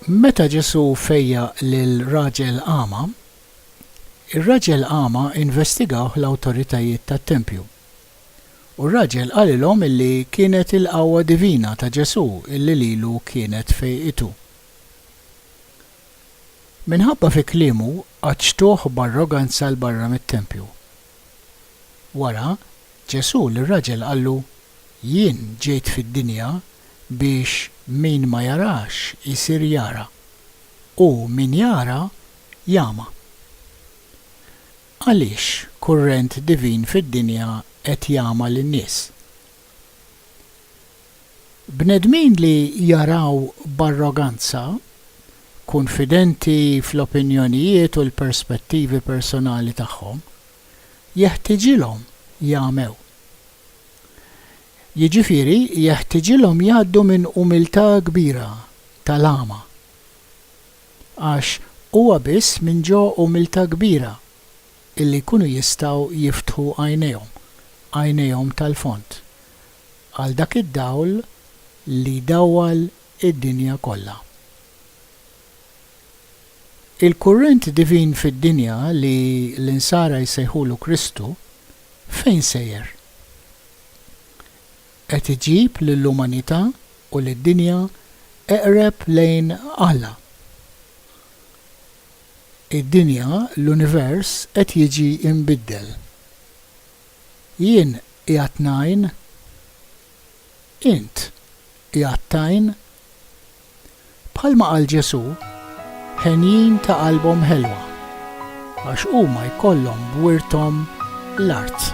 Meta Ġesù fejjaq lil raġel agħma, ir-raġel agħma investigawh l-awtoritajiet tat-tempju. U r-raġel qalilhom illi kienet il-qawwa divina ta' Ġesù illi lilu kienet fejqitu. Minħabba fi kliemu qaċċtuh b'arroganza 'l barra mit-tempju. Wara, Ġesù lir-raġel qallu, Jien ġejt fid-dinja biex min ma jarax isir jara, u min jara jagħma. Għaliex kurrent divin fid-dinja qed jagħma lin-nies? Bnedmin li jaraw b'arroganza, kunfidenti fl-opinjonijiet u l-perspettivi personali tagħhom, jeħtiġilhom jagħmew. Jiġifieri jeħtiġilhom jgħaddu minn umiltà kbira tal-għama. Għax huwa biss minn ġo umiltà kbira illi jkunu jistgħu jiftħu għajnejhom, għajnejhom tal-fond, Għal dak id-dawl li jdawwal id-dinja kollha. Il-kurrent divin fid-dinja li l-Insara jsejħulu Kristu, fejn sejjer? Qed iġib lill-umanità u lid-dinja eqreb lejn Alla. Id-dinja, l-univers qed jiġi mbiddel. Jien qiegħed ngħin? Int qiegħed tgħin? Bħalma qal Ġesù, Henjin ta' qalbhom ħelwa, għax huma jkollhom b'wirthom l-art.